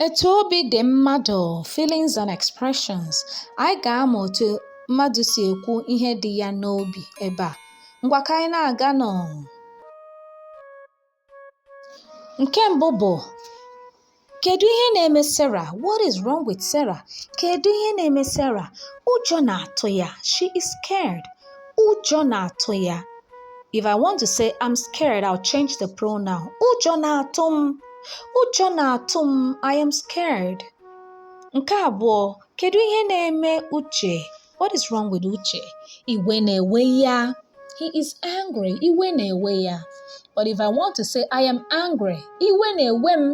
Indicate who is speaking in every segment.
Speaker 1: Etu obi dị mmadụ, feelings and expressions. Anyị ga-amụ otu mmadụ si ekwu ihe dị ya n'obi ebe a. Ngwa ka anyị na-aga nụ. Nke mbụ bụ kedu ihe na-eme Sarah? What is wrong with Sarah? Kedu ihe na-eme Sarah? Ụjọ na-atụ ya. She is scared. ụjọ na-atụ ya if i want to say i'm scared i'll change the pronoun ụjọ na-atụ m ụjọ na-atụ m i am scared nke abụọ kedu ihe na-eme uche what is wrong with uche iwe na-ewe ya he is angry iwe na-ewe ya but if i want to say i am angry iwe na-ewe m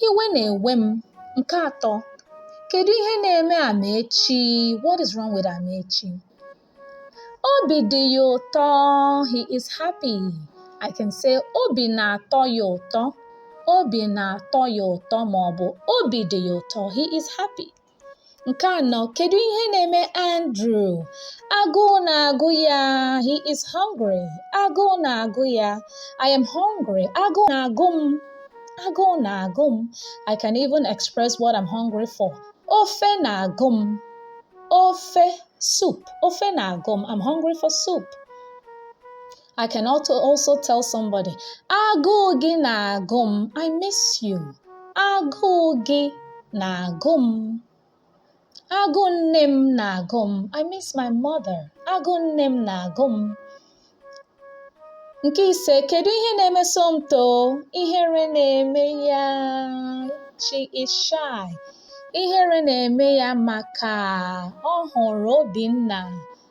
Speaker 1: Iwe na-ewe m. Nke atọ, kedu ihe na-eme Amaechi? What is wrong with Amaechi? Obi dị ya ụtọ. He is happy. I can say obi na-atọ ya ụtọ. Obi na-atọ ya ụtọ ma ọ bụ obi dị ya ụtọ. He is happy. Nke anọ, kedu ihe na-eme Andrew? Agụụ na-agụ ya. He is hungry. Agụụ na-agụ ya. I am hungry. Agụụ na-agụ m. Agụụ na-agụ m. I can even express what I'm hungry for. Ofe na-agụ m. Ofe soup. Ofe na-agụ m. I'm hungry for soup. I can also also tell somebody, agụụ gị na-agụ m, I miss you. Agụụ gị na-agụ m. Agụụ nne m na-agụ m, I miss my mother. Agụụ nne m na-agụ m. Nke ise, kedu ihe na-eme Somto? Ihere na-eme ya. She is shy. Ihere na-eme ya maka ọ hụrụ Obinna.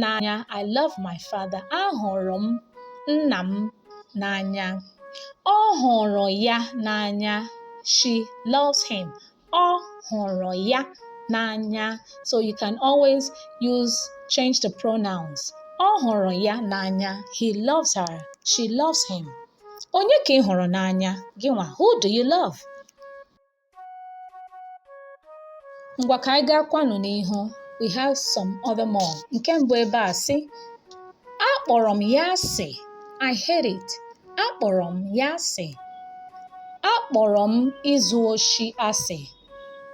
Speaker 1: n'anya I love my father ahụrụ m nna m n'anya ọ hụrụ ya n'anya she loves him ọ hụrụ ya n'anya so you can always use change the pronouns ọ hụrụ ya n'anya he loves her she loves him onye ka ị hụrụ n'anya gị nwa who do you love ngwa ka anyị gaakwanụ n'ihu we have some other more nke mbụ ebe a sị akpọrọ m ya asị I hate it akpọrọ m ya asị akpọrọ m izu oshi asị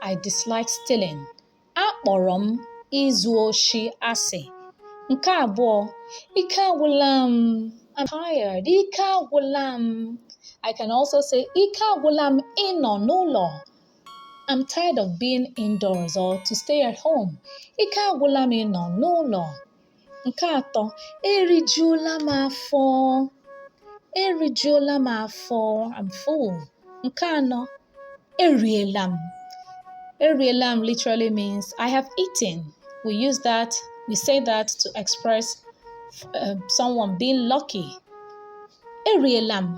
Speaker 1: I dislike stealing Akpọrọ m izu oshi asị. Nke abụọ, ike agwụla m. I'm tired. Ike agwụla m. I can also say ike agwụla m ịnọ n'ụlọ. I'm tired of being indoors or to stay at home. Ike agwụla m ịnọ n'ụlọ. Nke atọ, erijuola m afọ. Erijuola m afọ. I'm full. Nke anọ, eriela m. Eriela m literally means I have eaten. We use that, we say that to express uh, someone being lucky. Eriela m.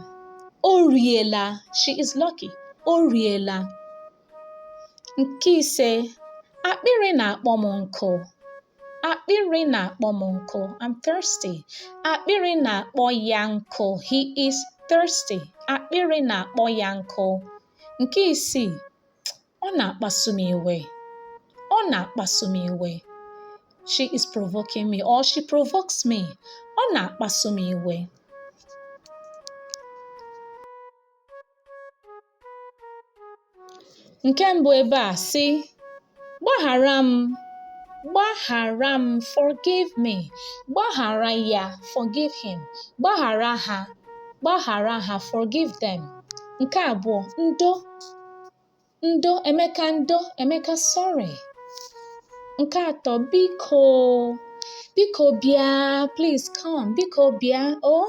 Speaker 1: O riela. She is lucky. O riela. Nke ise, akpịrị na-akpọ m nkụ. Akpịrị na-akpọ m nkụ. I'm thirsty. Akpịrị na-akpọ ya nkụ. He is thirsty. Akpịrị na-akpọ ya nkụ. Nke isii, ọ na-akpasu m iwe. Ọ na-akpasu m iwe. She is provoking me or she provokes me. Ọ na-akpasu m iwe. Nke mbụ ebe a sị, gbaghara m, gbaghara m, forgive me, gbaghara ya, forgive him, gbaghara ha, gbaghara ha, forgive them. Nke abụọ, ndo, ndo, Emeka ndo, Emeka sorry. Nke atọ, biko, biko bịa, please come, biko bịa, oh.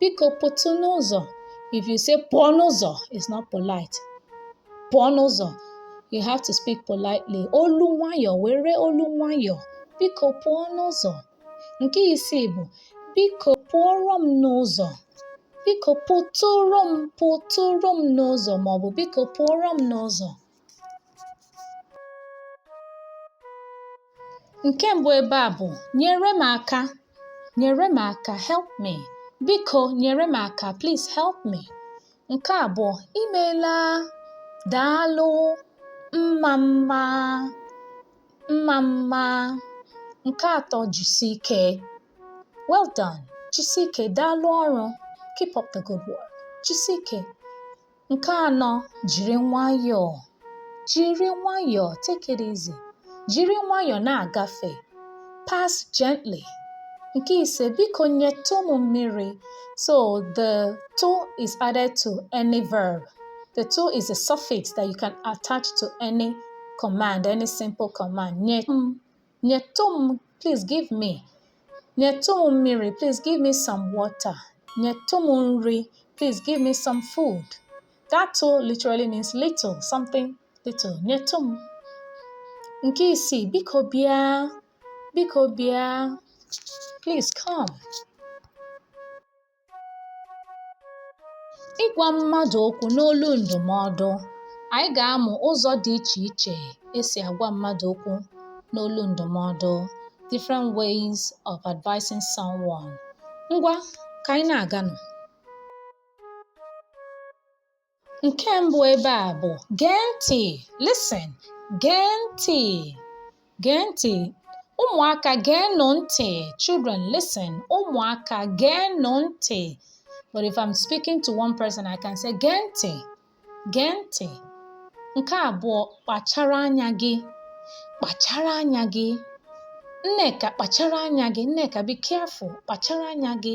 Speaker 1: biko pụtụ n'ụzọ if you say pụọ n'ụzọ it's not polite pụọ n'ụzọ you have to speak politely olu nwayọọ were olu nwayọọ biko pụọ n'ụzọ nke isii bụ biko pụọrọ m n'ụzọ biko pụtụrụ m pụtụrụ m n'ụzọ maọbụ biko pụọrọ m n'ụzọ Nke mbụ ebe a bụ nyere m aka, nyere m aka, help me. Biko nyere m aka, please help me. Nke abụọ, imeela, daalụ, mma mma, mma mma. Nke atọ, jisi ike. Well done. Jisi ike, daalụ ọrụ. Keep up the good work. Jisi ike. nke anọ jiri nwayọọ jiri nwayọọ take it easy jiri nwayọọ na-agafe pass gently nke ise biko nyetụ m mmiri so the tụ is added to any verb the tụ is a suffix that you can attach to any command any simple command nyetụ m please give me nyetụ m mmiri please give me some water nyetụ m nri please give me some food that tụ literally means little something little nyetụ m nke isii biko bịa biko bịa please come ịgwa mmadụ okwu n'olu ndụmọdụ anyị ga-amụ ụzọ dị iche iche esi agwa mmadụ okwu n'olu ndụmọdụ different ways of advising someone ngwa ka anyị na-aganụ Nke mbụ ebe a bụ gee ntị, listen, gee ntị, gee ntị. Ụmụaka geenụ ntị, children listen, ụmụaka geenụ ntị. But if I'm speaking to one person, I can say gee ntị, gee ntị. Nke abụọ kpachara anya gị, kpachara anya gị. Nneka kpachara anya gị, Nneka be careful, kpachara anya gị.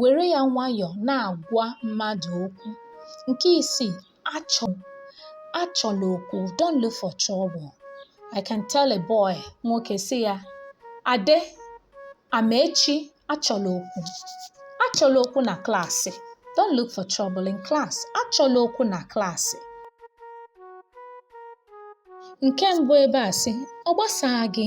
Speaker 1: were ya nwayọọ na-agwa mmadụ okwu nke isii achọla okwu don't look for trouble i can tell a boy nwoke sị ya ade amaechi achọla okwu achọla okwu na klaasị don't look for trouble in class achọla okwu na klaasị nke mbụ ebe a sị ọ gbasaa gị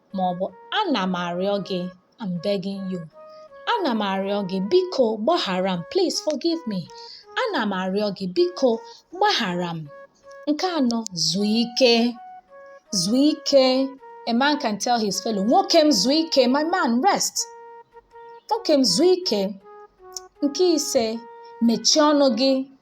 Speaker 1: ma ọ bụ ana m arịọ gị I'm begging you ana m arịọ gị biko gbaghara m please forgive me ana m arịọ gị biko gbaghara m nke anọ zuo ike zuo ike a man can tell his fellow nwoke m zuo ike my man rest nwoke m zuo ike nke ise mechie ọnụ gị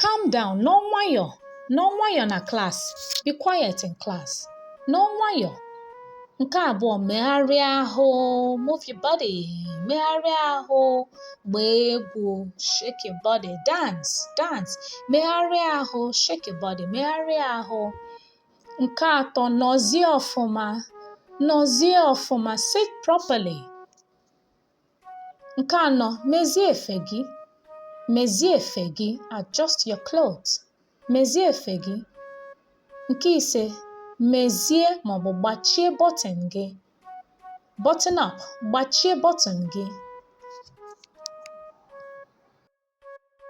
Speaker 1: Calm down, nọ nwayọọ, nọ nwayọọ na klas. Be quiet in class. Nọ nwayọọ. Nke abụọ, megharịa ahụ, move your body, megharịa ahụ, gbaa egwu, shake your body, dance, dance, megharịa ahụ, shake your body, megharịa ahụ. Nke atọ, nọzie ọfụma, nọzie ọfụma, sit properly. Nke anọ, mezie efe gị. Mezie efe gị, adjust your clothes. Mezie efe gị. Nke ise, mezie maọbụ gbachie bọtịn gị. Button up, gbachie bọtịn gị.